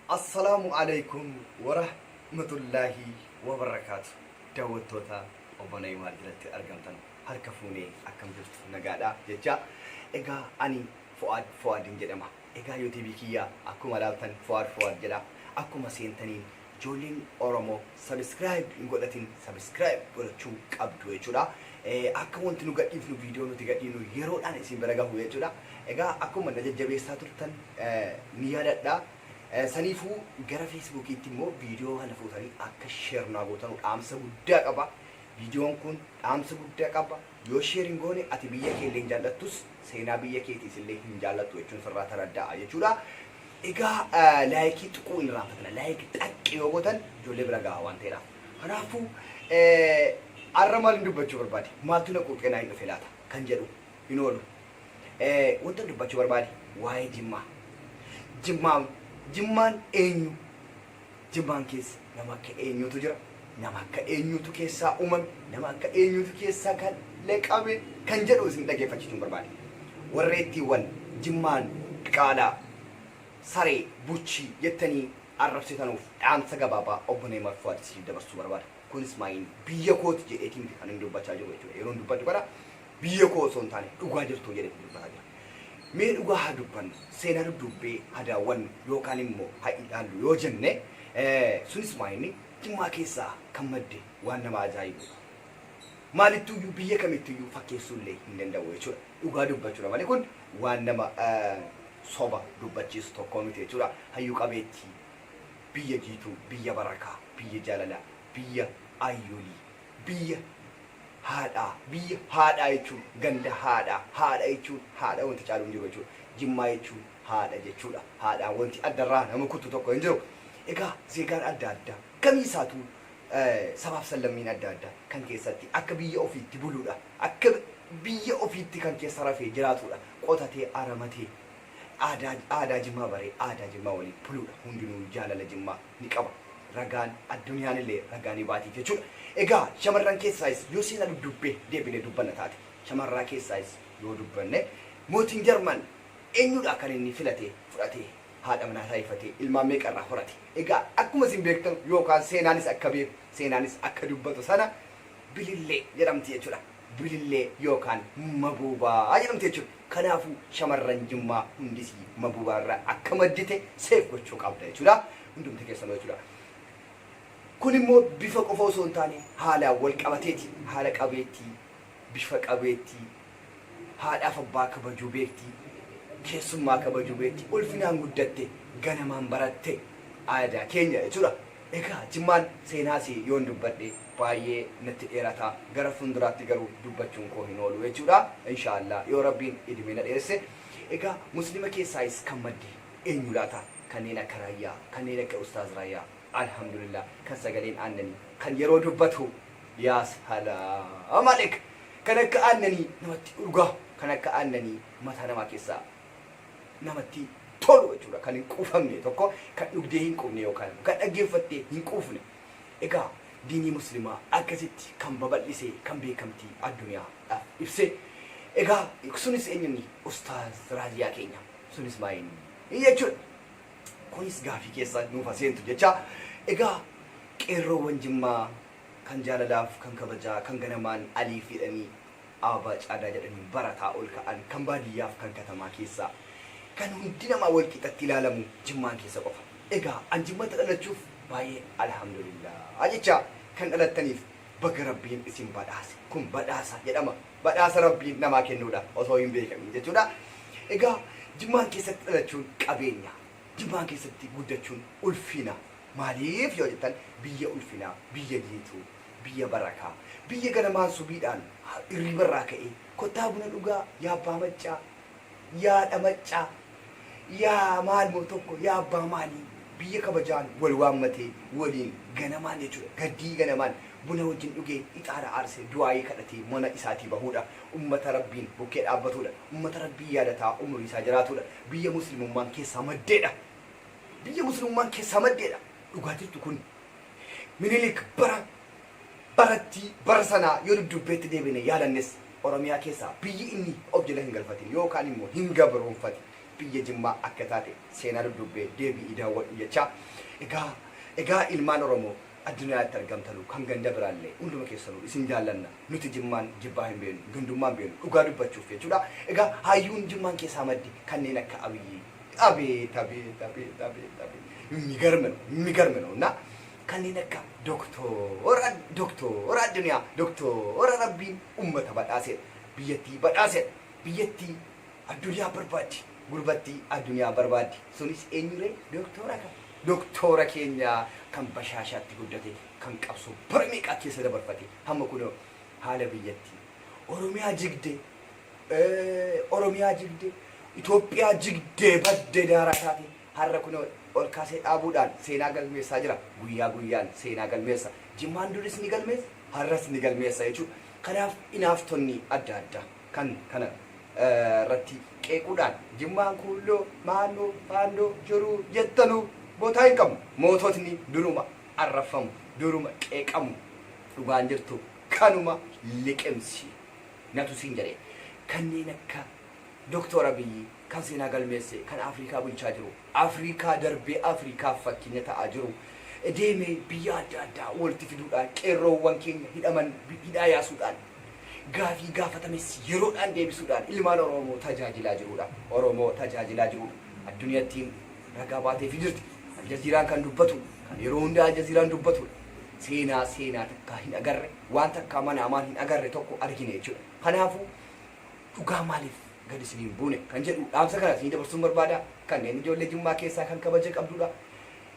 Assalaamu Aleeykum Warahmatullaahi Wabarakaatu Daawwattoota Obbo Na'imaar jalatti argamtan harka fuunee akkam jirtu nagaadha jechaa egaa ani Fu'aad Fu'aadin jedhama egaa youtube kiyya akkuma ilaaltan Fu'aad Fu'aad jedha akkuma seentaniin Ijoolleen oromo subscribe hin godhatin subscribe godhachuu qabdu jechuudha akka wanti nu gadhiifnu viidiyoo nuti gadhiifnu yeroodhaan isin bira gahu jechuudha egaa akkuma na jajjabeessaa turtan ni yaadadha saniifuu gara feesbuukiitti immoo viidiyoo kana fuutanii akka sheer naa gootanu dhaamsa guddaa qaba viidiyoon kun dhaamsa guddaa qaba Yoo share hin goone ati biyya keellee hin jaallattus seenaa biyya keetiis illee hin jaallattu jechuun sirraa taraddaa'a jechuudha. Egaa laayikii tuquu hin irraanfatina. Laayik xaqqi yoo gootan ijoollee bira gaha waan ta'eedhaaf. Kanaafuu har'a maal hin dubbachuu barbaade? Maaltu na quuqee naa hin dhufe laata? Kan jedhu hin oolu. Wanta dubbachuu barbaade waa'ee Jimmaa. Jimmaan Jimmaan eenyu? Jimmaan keessa nama akka eenyuutu jira? Nama akka eenyuutu keessaa uumame? Nama akka eenyuutu keessaa kalaqame? Kan jedhu isin dhaggeeffachiisuun barbaade. Warreettiiwwan Jimmaan diqaalaa, saree, buchii jettanii arrabsitanuuf dhaamsa gabaabaa Obbo Neeymaar Fuwaad isiniif dabarsuu barbaada. Kunis maayiin biyya kooti jedheetii miti kanin dubbachaa jiru jechuudha. Yeroon dubbadhu kana Biyya koo osoo hin taane dhugaa jirtuu jedheeti dubbataa jira. Mee dhugaa haa dubbannu, seenaa dudduubbee haa daawwannu yookaan immoo haa ilaallu yoo jenne, sunis maa inni Jimmaa keessaa kan madde waan nama ajaa'ibuudha. Maalittuu iyyuu biyya kamittuu iyyuu fakkeessuu illee hin danda'u jechuudha. Dhugaa dubbachuudha malee kun waan nama soba dubbachiisu tokkoo miti jechuudha. Hayyuu qabeettii, biyya jiituu, biyya barakaa, biyya jaalalaa, biyya ayyuulii. Biyya haadhaa Biyya haadhaa jechuun ganda haadhaa Haadha jechuun haadha wanti caalu hin jiru jechuudha. Jimmaa jechuun haadha jechuudha. Haadhaan wanti adda irraa nama kuttu tokko hin jiru. Egaa zeegaan adda addaa kamii isaatuu sabaaf sallammiin adda addaa kan keessatti akka biyya ofiitti buluudha. Akka biyya ofiitti kan keessa rafee jiraatuudha. Qotatee aramatee Aadaa aadaa jimmaa baree aadaa jimmaa waliin buluudha hundinuu jaalala jimmaa ni qaba ragaan adduniyaanillee ragaa ni baati jechuudha egaa shamarran keessaayis yoo seenaa dudduubbee deebinee dubbanna taate shamarraa keessaayis yoo dubbanne mootiin jarman eenyuudhaa kan inni filatee fudhatee haadha manaa taaifatee ilmaan meeqa irraa horate egaa akkuma isin beektanu yookaan seenaanis akka beeku seenaanis akka dubbatu sana bilillee jedhamti jechuudha. Bilillee yookaan Mabuubaa jedhamti jechuudha. Kanaafuu shamarran Jimmaa hundis Mabuubaa irraa akka maddite save gochuu qabda jechuudha. Hundumti keessanuu jechuudha. Kun immoo bifa qofa osoo hin taane haalaan wal qabateeti. Haala qabeettii, bifa qabeettii, haadhaaf abbaa kabajuu beekti, keessummaa kabajuu beekti, ulfinaan guddatte, ganamaan baratte aadaa keenya jechuudha. Egaa Jimmaan seenaa isii yoon dubbadhe baay'ee natti dheerata gara funduraatti garuu dubbachuun koo hin oolu jechuudha inshaa Allah yoo rabbiin idmee na dheeresse egaa muslima keessaayis kan madde eenyu laata kanneen akka raayyaa kanneen akka ustaaz raayyaa alhamdulillah kan sagaleen aannanii kan yeroo dubbatu yaa salaam alek kan akka aannanii namatti urgaa kan akka aannanii mataa namaa keessaa namatti tolu jechuudha kan hin quufamne tokko kan dhugdee hin quufne yookaan kan dhaggeeffattee hin quufne Egaa diinii muslimaa akkasitti kan babal'isee kan beekamtii adduniyaa dhaaf ibse egaa sunis enyunni ustaaz raaziyaa keenya sunis maa inni jechuudha kunis gaafii keessa nuuf ha seentu jechaa egaa qeerroowwan jimmaa kan jaalalaaf kan kabajaa kan ganamaan aliif jedhanii Aabaa Caadaa jedhaniin barataa ol ka'an, kan baadiyyaaf kan katamaa keessaa, kan hundi namaa wal qixatti ilaalamu Jimmaan keessa qofa. Egaa an Jimmatti dhalachuuf baay'ee Alhamdulillaah jechaa, kan dhalattaniif baga Rabbiin isin badhaase. Kun badhaasa jedhama. Badhaasa Rabbiin namaa kennuudha osoo hin beekamiin jechuudha. Egaa Jimmaan keessatti dhalachuun qabeenya. Jimmaan keessatti guddachuun ulfina. Maaliif yoo jettan biyya ulfinaa, biyya jiituu. Biyya barakaa. Biyya ganamaan subiidhaan hirriiba irraa ka'ee kottaa buna dhugaa yaa abbaa maccaa, yaa haadha maccaa, yaa maal moo tokko, yaa abbaa maalii, biyya kabajaan wal waammatee waliin ganamaan jechuudha gaddii ganamaan buna wajjin dhugee ixaana aarsee du'aa'ii kadhatee mana isaatii bahuudha. Ummata Rabbiin bukkee dhaabbatuudha. Ummata Rabbii yaadataa umrii isaa jiraatuudha. Biyya muslimummaan keessaa maddeedha. Biyya muslimummaan keessaa maddeedha. Dhugaa jirtu kun Minilik bara barattii bara sanaa yoo dudduubbeetti deebine yaalannes Oromiyaa keessaa biyyi inni of jala hin galfatin yookaan immoo hin gabroomfatin biyya Jimmaa akka taate seenaa dudduubbee deebi'ii daawwadhu jechaa egaa egaa ilmaan Oromoo addunyaatti argamtanuu kan ganda biraallee hunduma keessanuu isin jaallanna nuti Jimmaan jibbaa hin beeknu gandummaa hin beeknu dhugaa dubbachuuf jechuudha egaa hayyuun Jimmaan keessaa madde kanneen akka Abiyyii Abeet abeet abeet abeet abeet migarme no migarme no na kanneen akka doktoora doktoora addunyaa doktoora rabbiin ummata badhaaseedha biyyattii badhaaseedha biyyattii addunyaa barbaaddi gurbattii addunyaa barbaaddi sunis eenyuree doktoora kan doktoora keenya kan bashaashaatti guddate kan qabsoo bara meeqaa keessa dabarfate hamma kunoo haala biyyattii oromiyaa jigdee Oromiyaa jigde, Itoophiyaa jigdee badde daaraa taate har'a kunoo ol kaasee dhaabuudhaan seenaa galmeessaa jira. Guyyaa guyyaan seenaa galmeessa. Jimmaan duris ni galmeessa, har'as ni galmeessa jechuudha. Kanaaf inaaftonni adda addaa kan kana irratti qeequudhaan Jimmaan kuulloo, maannoo, faandoo, jiruu jettanuu botaa hin qabnu. Moototni duruma arrabfamu, duruma qeeqamu. Dhugaan jirtu kanuma liqimsi. na tusiin jedhe. Kanneen akka Doktoor Abiy kan seenaa galmeesse, kan Afrikaa bulchaa jiru, Afrikaa darbee Afrikaaf fakkeenya ta'aa jiru deemee biyya adda addaa walti fiduudhaan qeerroowwan keenya hidhaman hidhaa yaasuudhaan gaafii gaafatames yeroodhaan deebisuudhaan ilmaan Oroomoo tajaajilaa jiruudha. Oromoo tajaajilaa jiruudha. Adduniyattiin ragaa baateefi jirti. Aljaziiraan kan dubbatu, kan yeroo hundaa Aljaziiraan dubbatuudha. Seenaa seenaa takkaa hin agarre. waan takkaa mana amaan hin agarre tokko argine jechuudha. Kanaafuu dhugaa maaliif gad isin hin buune kan jedhu dhaamsa kana isin dabarsuun barbaada. Kanneen ijoollee Jimmaa keessaa kan kabaja qabdudha.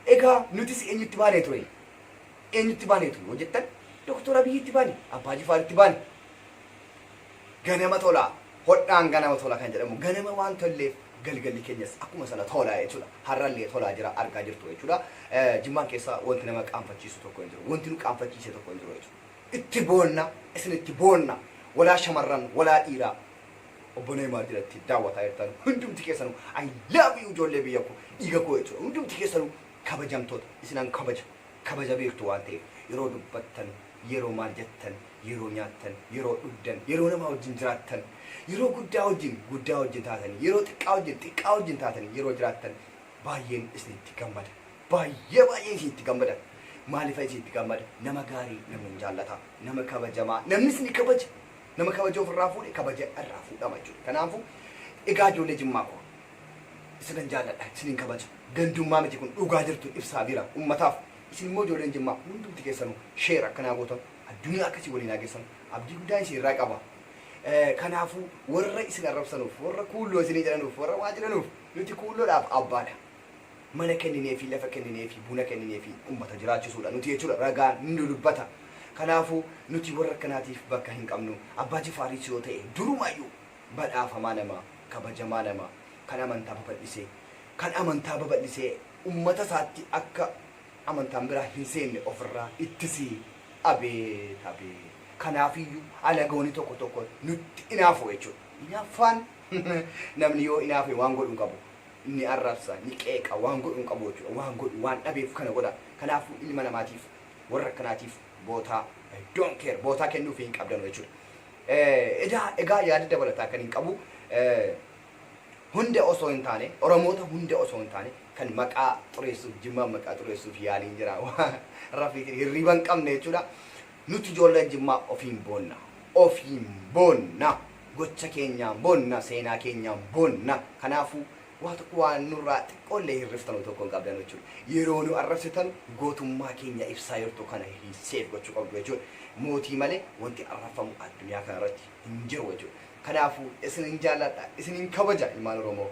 Egaa nutis eenyutti baanee ture? Eenyutti baanee ture? Hojjettan Doktor Abiyyitti baane, Abbaa Jifaaritti baane. Ganama tola, hodhaan ganama tola kan jedhamu ganama waan tolleef galgalli keenyas akkuma sana tola jechuudha. Har'allee tolaa jira argaa jirtu jechuudha. Jimmaan keessa wanti nama qaanfachiisu tokko hin jiru. Wanti nu qaanfachiise tokko hin jiru jechuudha. Itti boonna, isin itti boonna. Walaa shamarran, walaa dhiiraa. Obbo Neeymaar jalatti daawwataa jirtan hundumti keessanu I love you ijoollee biyya koo dhiiga koo jechuudha. Hundumti keessanu kabajamtoota isinan kabaja. kabaja beektu waan ta'eef yeroo dubbattan, yeroo maal jettan, yeroo nyaattan, yeroo dhugdan, yeroo namaa wajjin jiraattan, yeroo guddaa wajjin guddaa wajjin taatanii, yeroo xiqqaa wajjin xiqqaa wajjin taatanii yeroo jiraattan baay'een isinitti gammada. Baay'ee baay'een isinitti gammada. Maaliifan isinitti gammada? Nama gaarii namni hin jaallata. Nama kabajamaa namni isin kabaja. Nama kabaja ofirraa fuudhe kabaja irraa fuudhama jechuudha. Kanaafuu egaa ijoollee Jimmaa koo isinan jaalladha isinin kabaja gandummaa miti kun dhugaa jirtu ibsaa bira ummataaf isin immoo ijoolleen jimmaa hundumti keessanu share akka naa gootan addunyaa akka isin waliin haa geessan abdii guddaa isin irraa qaba kanaafuu warra isin arrabsanuuf warra kuulloo isinii jedhanuuf warra waa jedhanuuf nuti kuulloodhaaf abbaadha mana kenninee fi lafa kenninee fi buna kenninee fi ummata jiraachisuudha nuti jechuudha ragaa nu dubbata kanaafuu nuti warra akkanaatiif bakka hin qabnu abbaa jifaariis yoo ta'e durumaayyuu badhaafamaa namaa, kabajamaa namaa, kan amantaa babal'isee, kan amantaa babal'isee ummata isaatti akka amantaan biraa hin seenne of irraa ittisii! Abeet! Abeet! Kanaaf iyyuu alagoonni tokko tokko nutti inaafu jechuu dha. Inaaffaan namni yoo inaafe waan godhu hin qabu. Ni arrabsa, ni qeeqa, waan godhu hin qabu jechuu dha. Waan godhu, waan dhabeef kana godha. Kanaafuu ilma namaatiif, warra akkanaatiif bootaa, I don't care, bootaa kennuufii hin qabdanu jechuu dha. Edaa egaa yaada dabalataa kanin qabu hunda osoo hin taane Oromoota hunda osoo hin taane kan maqaa xureessuuf Jimmaan maqaa xureessuuf yaaliin jira waan rafiitiin hirriiba hin qabne jechuudha. Nuti ijoolleen Jimmaa ofiin boonna. Ofiin boonna. Gocha keenyaan boonna. Seenaa keenyaan boonna. Kanaafuu Waa tokko waan nurraa xiqqoollee hirriftanu tokko hin qabdanu jechuudha. Yeroo nu arrabsitanu gootummaa keenya ibsaa jirtu kana save gochuu qabdu jechuudha. Mootii malee wanti arrabfamu addunyaa kanarratti hin jiru jechuudha. Kanaafuu isinin jaalladha, isinin kabaja ilmaan Oromoo.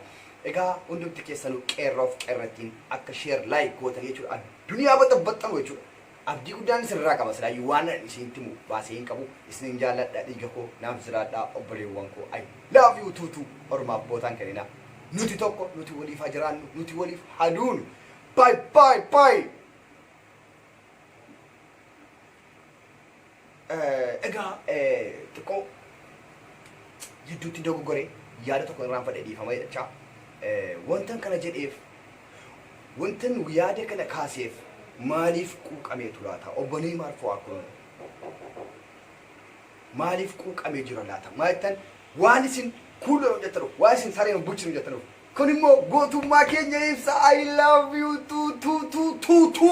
Egaa hundumti keessanuu qeerroof qeerrattiin akka share like gootanii jechuudha addunyaa baxabaxxanu jechuudha. Abdii guddaan isin irraa qaba silaayyuu waanan isinitti himu baasee hin qabu isinin jaalladha dhiiga koo naaf jiraadhaa obboleewwan koo I love you too too ormaaf bootaa hin kenninaa nuti tokko nuti waliif haa jiraannu nuti waliif haa duunu bye bye bye. Egaa xiqqoo jidduutti dogoggore yaada tokko irraanfadhe dhiifama jedhachaa wantan kana jedheef wantan yaada kana kaaseef maaliif quuqameetu laata obbolee maarfoo akkun maaliif quuqamee jira laata maa jettan waan isin kuullan hojjettanuuf waan isin sareen hin bulchine hojjettanuuf kun immoo gootummaa keenya ibsa I love you tu tu tu tu tu